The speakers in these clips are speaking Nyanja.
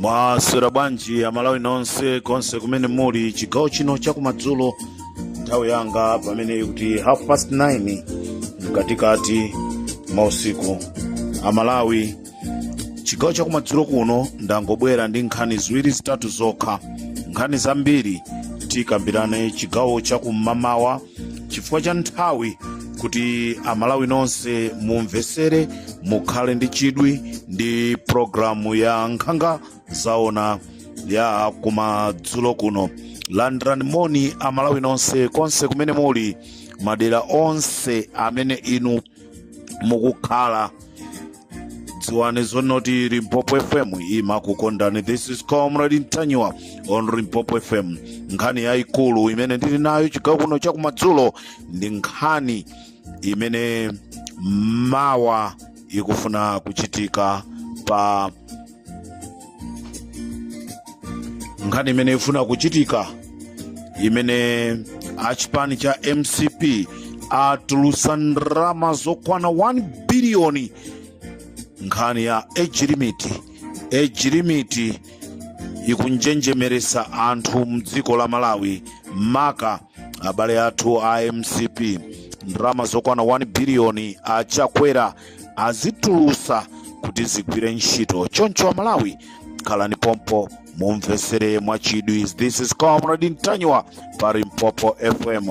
mwaswera bwanji amalawi nonse konse kumene muli chigawo chino chakumadzulo nthawi yanga pamene ikuti half past 9 mkatikati mwausiku amalawi chigawo chakumadzulo kuno ndangobwera ndi nkhani ziwiri zitatu zokha nkhani zambiri tikambirane chigawo chakum'mamawa chifukwa cha nthawi kuti amalawi nonse mumvesere mukhale ndi chidwi ndi programu ya nkhanga zaona ya kumadzulo kuno landirani moni amalawi nonse konse kumene muli madera onse amene inu mukukhala dziwani zonoti limpopo fm imakukondani this is comrade ntanyiwa on limpopo fm nkhani yayikulu imene ndili nayo chigawo kuno chakumadzulo ndi nkhani imene mawa ikufuna kuchitika pa nkhani imene ifuna kuchitika imene achipani cha mcp atulusa ndalama zokwana 1 biliyoni nkhani ya age limit age limit ikunjenjemeresa anthu mdziko la malawi maka abale athu a mcp ndalama zokwana 1 biliyoni achakwera azitulusa kuti zigwire ntchito choncho amalawi khalani pompo mumvesere mwachidwi this is comrade ntanyiwa pa limpopo fm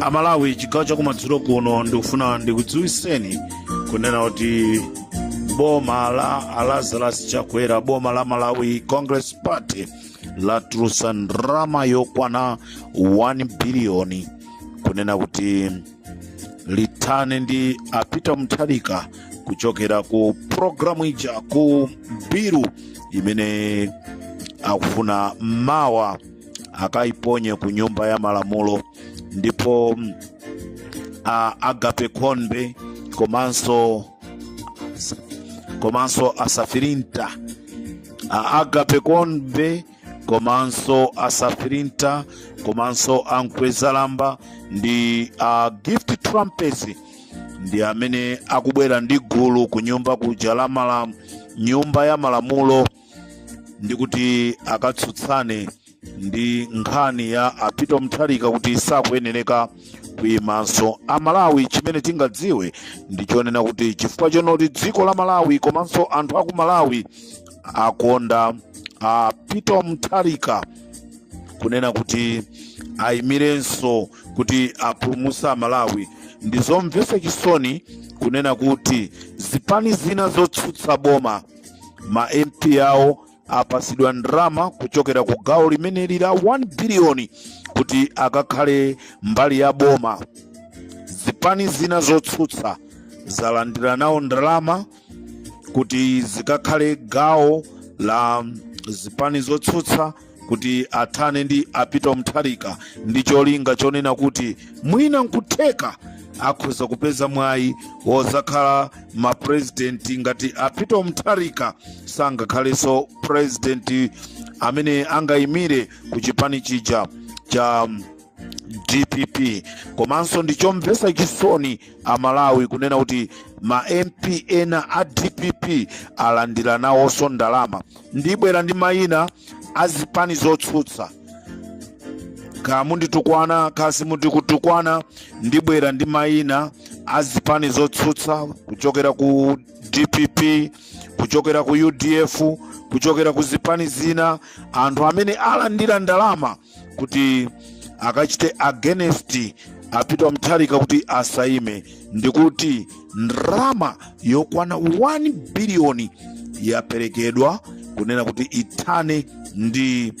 amalawi chigawo chakumadzulo kuno ndikufuna ndikudziwiseni kunena kuti boma la alazarus chakwera boma la malawi congress party latulusa ndalama yokwana 1 biliyoni kunena kuti lithane ndi apita mutharika kuchokera ku programu ija ku biru imene akufuna mawa akayiponye ku nyumba ya malamulo ndipo a agape khombe komanso komanso asafirinta a agape khombe komanso asafirinta komanso a mkwezalamba ndi a gift trapence ndi amene akubwera ndi gulu ku nyumba kuja la mala nyumba ya malamulo ndi kuti akatsutsane ndi nkhani ya a peter mutharika kuti sakuyenereka kuyimanso amalawi chimene tingadziwe ndi chonena kuti chifukwa chonoti dziko la malawi komanso anthu aku malawi akonda a peter mutharika kunena kuti ayimirenso kuti apulumusa malawi ndi zomvesa chisoni kunena kuti zipani zina zotsutsa boma ma mp awo apasidwa ndalama kuchokera ku gawo limeneli la 1 biliyoni kuti akakhale mbali ya boma zipani zina zotsutsa zalandira nawo ndalama kuti zikakhale gawo la zipani zotsutsa kuti athane ndi a peter mutharika ndi cholinga chonena kuti mwina nkutheka akhoza kupeza mwayi wozakhala mapurezidenti ngati a peter mutharika sangakhalenso purezidenti amene angayimire ku chipani chija cha dpp komanso ndi chomvetsa chisoni amalawi kunena kuti ma mp ena a dpp alandira nawonso ndalama ndibwera ndi mayina a zipani zotsutsa kaya munditukwana kaya simundikutukwana ndibwera ndi mayina a zipani zotsutsa kuchokera ku dpp kuchokera ku udf kuchokera ku zipani zina anthu amene alandira ndalama kuti akachite against a peter mutharika kuti asaime ndikuti ndalama yokwana 1 biliyoni yaperekedwa kunena kuti ithane ndi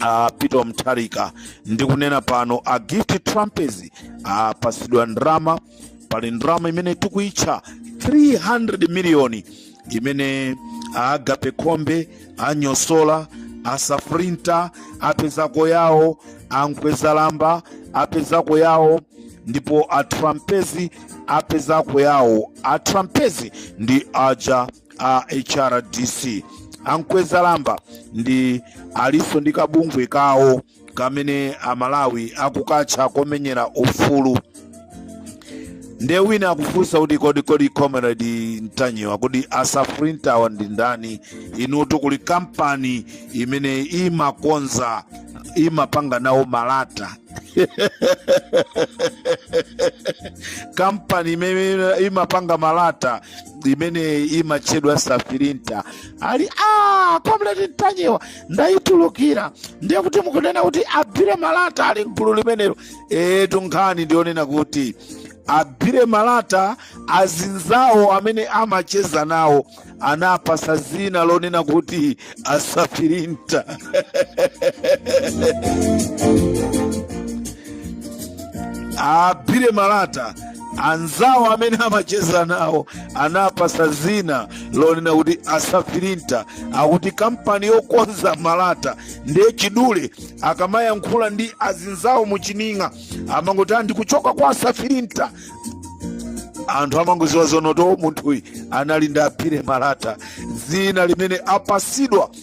a peter mutharika ndikunena pano a gift trapence apasidwa ndalama pali ndalama imene tikuitcha 300 miliyoni imene agape khombe anyosola asafrinta apezako yawo a mkwezalamba apezako yawo ndipo a trapence apezako yawo a trapence ndi aja a hrdc a mkwezalamba ndi alinso ndi kabungwe kawo kamene amalawi akukatcha komenyera ufulu nde wina akufunsa kuti kodi kodi comrade mtanyiwa kuti asafirintawa ndi ndani inutu kuli kampani imene imakonza imapanga nawo malata kampani imene imapanga malata imene imatchedwa safirinta ali a comrade mtanyiwa ndayitulukira ndiye kuti mukunena kuti abire malata ali mgulu limenelo etu nkhani ndiyonena kuti abire malata azinzawo amene amacheza nawo anapasa zina lonena kuti asafirinta abire malata anzawo amene amacheza nawo anapasa zina lonena kuti asafirinta akuti kampani yokonza malata ndiye chidule akamayankhula ndi azinzawo muchining'a amangoti ah ndikuchoka kwa asafirinta anthu amangoziwa zonoti munthuyu anali ndi abire malata zina limene apasidwa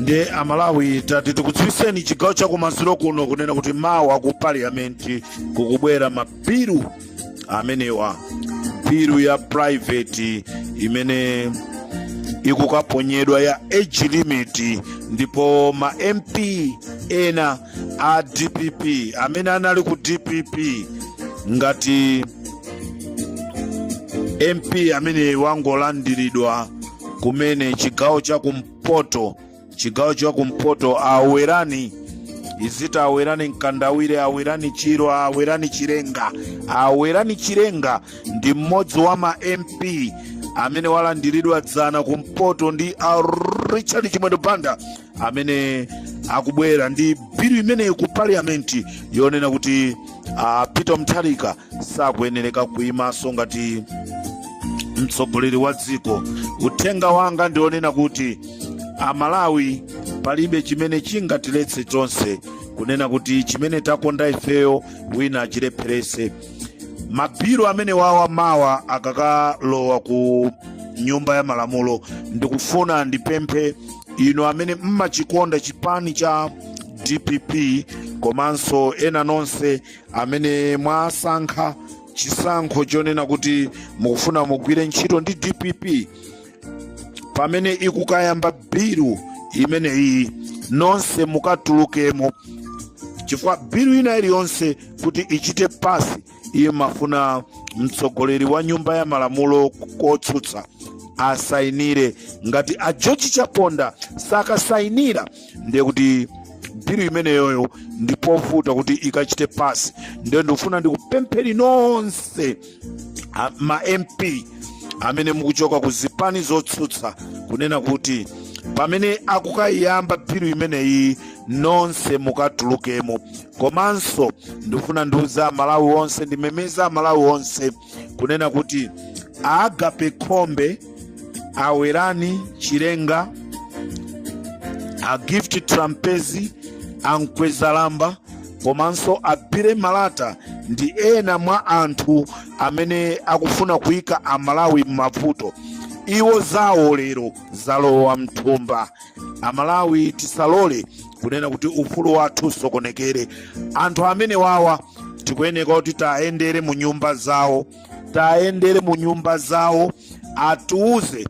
nde amalawi tati tikudziwiseni chigawo chakumadzulo kuno kunena kuti mawa ku parliament kukubwera mabilu amenewa bilu ya private imene ikukaponyedwa ya age limit ndipo ma mp ena a dpp amene anali ku dpp ngati mp amene wangolandiridwa kumene cho mchigawo cha kumpoto awerani izita awerani mkandawire awerani chiro awerani chirenga awerani chirenga ndi mmodzi wa ma mp amene walandiridwa dzana kumpoto ndi a richard chimwendo banda amene akubwera ndi bilu imeneyi ku parliament yonena kuti a peter mutharika sakuyenereka kuyimanso ngati mtsogoleri wa dziko uthenga wanga ndionena kuti amalawi palibe chimene chingatiletse chonse kunena kuti chimene takonda ifeyo wina achilepherese mabilu amenewawa mawa akakalowa ku nyumba ya malamulo ndikufuna ndipemphe inu amene mmachikonda chipani cha dpp komanso ena nonse amene mwasankha chisankho chonena kuti mukufuna mugwire ntchito ndi dpp pamene ikukayamba bilu imene iyi nonse mukatulukemo chifukwa bilu ina iliyonse kuti ichite pasi imafuna mtsogoleri wa nyumba ya malamulo kotsutsa asainire ngati a george chaponda sakasainira ndiye kuti bilu imeneyoyo ndi povuta kuti ikachite pass ndiye ndikufuna ndikupempheni nonse a- ma mp amene mukuchoka ku zipani zotsutsa kunena kuti pamene akukayiyamba bilu imeneyi nonse mukatulukemo komanso ndikufuna ndiuza amalawi onse ndimemeza amalawi onse kunena kuti agape khombe a welani chilenga a gift trapence a mkwezalamba komanso a billy malata ndi ena mwa anthu amene akufuna kuyika amalawi m'mavuto iwo zawo lero zalowa mthumba amalawi tisalole kunena kuti ufulu wathu usokonekere anthu amenewawa tikuyeneka kuti tayendere mu nyumba zawo tayendere mu nyumba zawo atiuze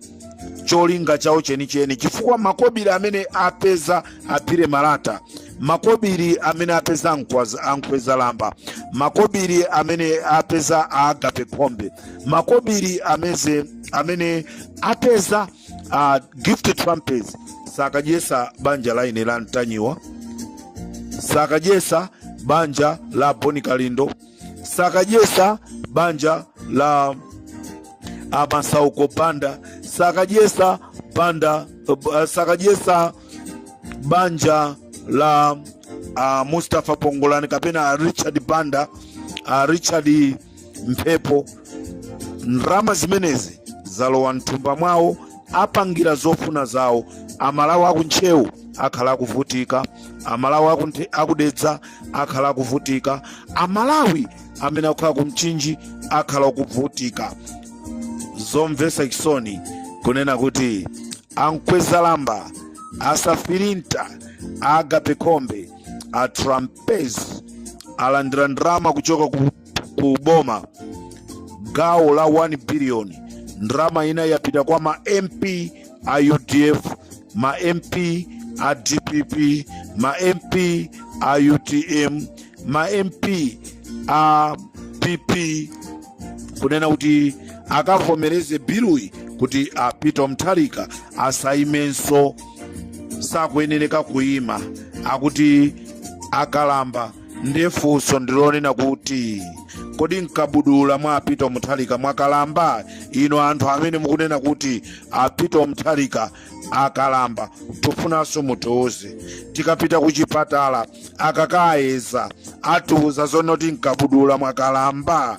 cholinga chawo chenicheni chifukwa makobiri amene apeza a billy malata makobiri amene apeza ankwaza- a mkwezalamba makobiri amene apeza agape khombe makobiri ameze amene apeza a gift trapence sakadyesa banja la ine la mtanyiwa sakadyesa banja la boni kalindo sakadyesa banja la a masauko banda sakadyesa banda uh, sakadyesa banja la uh, mustapha pongolani kapena richard banda uh, richard mphepo ndalama zimenezi zalowa mthumba mwawo apangira zofuna zawo amalawi akuntcheu akhala akuvutika amalawi akunthe- akudedza akhala akuvutika amalawi amene akukhala kumchinji akhala akuvutika zomvesa chisoni kunena kuti a mkwezalamba asafirinta agape khombe a tra pence alandira ndalama kuchoka ku, ku boma gawo la 1 billion ndalama ina yapita kwa ma mp a udf ma mp a dpp ma mp a utm ma mp a pp kunena kuti akavomereze biluyi kuti a peter mutharika asaimenso sakuyenereka kuyima akuti akalamba ndiye funso ndilonena kuti kodi mkabudula mwa a Peter Mutharika mwakalamba inu anthu amene mukunena kuti a Peter Mutharika akalamba tufunanso mutiuze tikapita ku chipatala akakayeza atiuza zonoti mkabudula mwakalamba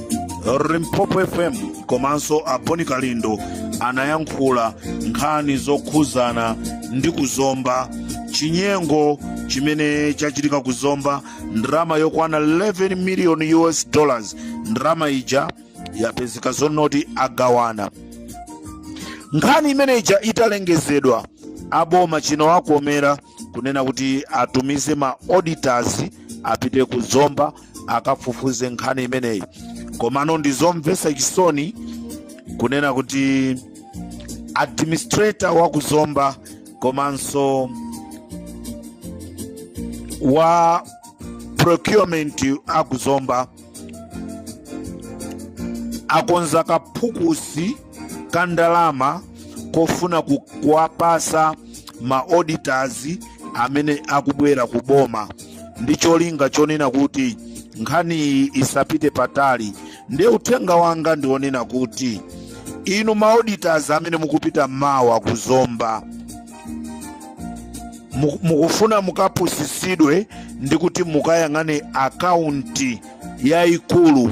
Limpopo FM komanso a Bon Kalindo anayankhula nkhani zokhuzana ndi ku Zomba chinyengo chimene chachitika ku Zomba ndalama yokwana 11 million us dollars ndalama ija yapezeka zonoti agawana nkhani imene ija italengezedwa aboma chinawakomera kunena kuti atumize ma auditors apite ku Zomba akafufuze nkhani imeneyi komano ndi zomvetsa chisoni kunena kuti administrator wa ku Zomba komanso wa procurement a ku Zomba akonza kaphukusi ka ndalama kofuna ku- kuwapasa ma auditors amene akubwera ku boma ndi cholinga chonena kuti nkhaniyi isapite patali ndiye uthenga wanga ndionena kuti inu ma auditors amene mukupita mawa ku Zomba mu- mukufuna mukapusisidwe ndi kuti mukayang'ane akaunti yayikulu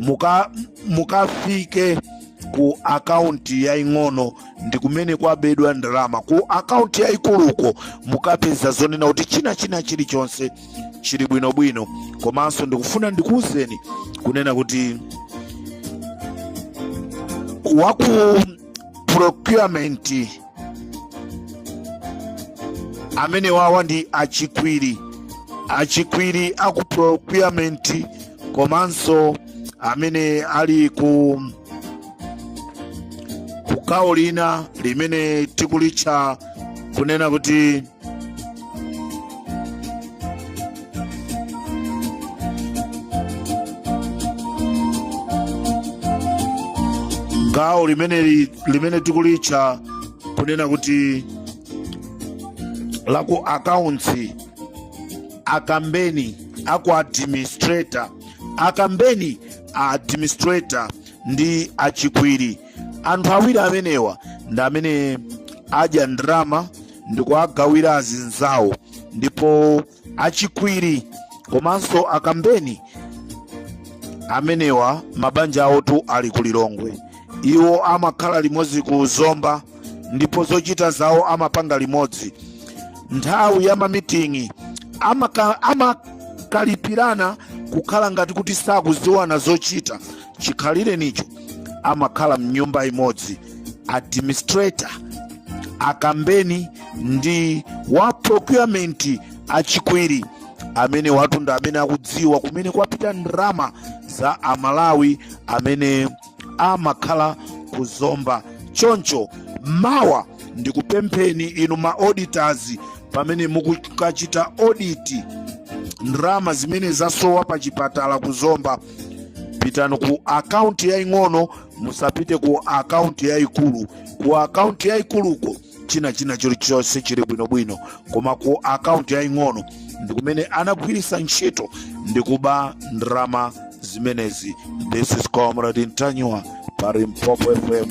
muka mukafike ku akaunti yaing'ono ndi kumene kwabedwa ndalama ku akaunti yaikuluko mukapeza zonena kuti china china chilichonse chili bwinobwino komanso ndikufuna ndikuwuzeni kunena kuti waku procurement amenewawa ndi a Chikwiri a Chikwiri aku procurement komanso amene ali ku kugawo lina limene tikulitcha kunena kuti gawo limene li- limene tikulitcha kunena kuti la ku akaunti a Kambeni aku administrator a Kambeni a administrator ndi a Chikwiri anthu awiri amenewa ndi amene adya ndalama ndikuwagawira azinzawo ndipo a Chikwiri komanso a Kambeni amenewa mabanja awotu ali ku Lilongwe iwo amakhala limodzi ku zomba ndipo zochita zawo amapanga limodzi nthawi ya mamiting'i amakalipirana kukhala ngati kuti sakuziwana zochita chikhalirenicho amakhala mnyumba imodzi administrator a kambeni ndi wa procurement a chikwiri amenewatu ndi amene akudziwa kumene kwapita ndalama za amalawi amene amakhala ku zomba choncho mawa ndikupempheni inu ma auditors pamene mukukachita audit ndalama zimene zasowa pa chipatala ku zomba pitani ku akaunti yaying'ono musapite ku akaunti yayikulu ku akaunti yayikuluko china china chilichonse chili bwinobwino koma ku akaunti yaying'ono ndi kumene anagwiritsa ntchito ndi kuba ndalama zimenezi this is comrade ntanyiwa pa limpopo fm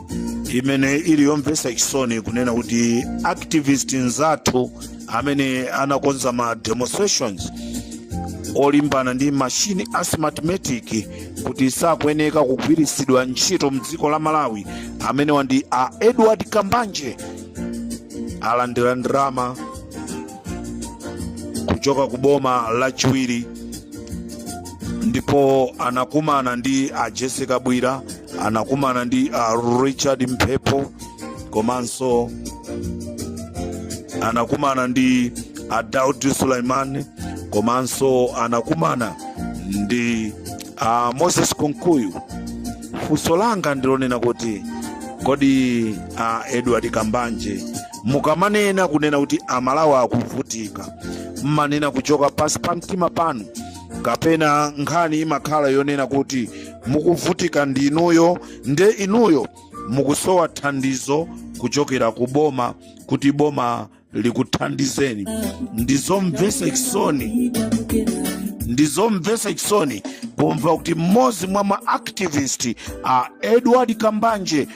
imene ili yomvetsa chisoni kunena kuti activist nzathu amene anakonza ma demonstrations olimbana ndi mashini a smartmatic kuti sakuyeneka kugwiritsidwa ntchito mdziko la malawi amenewa ndi a edward kambanje alandira ndalama kuchoka ku boma lachiwiri ndipo anakumana ndi a jessie kabwila anakumana ndi a richard mphepo komanso anakumana ndi a daudi suleman komanso anakumana ndi a moses kunkuyu funso langa ndilonena kuti kodi a edward kambanje mukamanena kunena kuti amalawi akuvutika mmanena kuchoka pansi pa mtima panu kapena nkhani imakhala yonena kuti mukuvutika ndi inuyo nde inuyo mukusowa thandizo kuchokera ku boma kuti boma likuthandizeni ndizomvesa chisoni kumva kuti mmodzi mwa ma activist a edward kambanje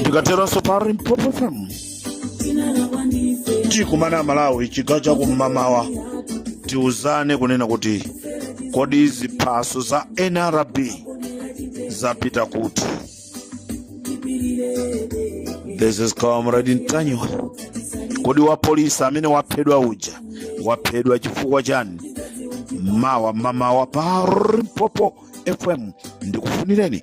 ndikateronso pa Limpopo fm tikumana amalawi chigawo chakum'mamawa tiuzane kunena kuti kodi ziphaso za nrb zapita kuti this is comrade ntanyiwa kodi wapolisi amene waphedwa uja waphedwa chifukwa chani mawa mamawa pa Limpopo fm ndikufunireni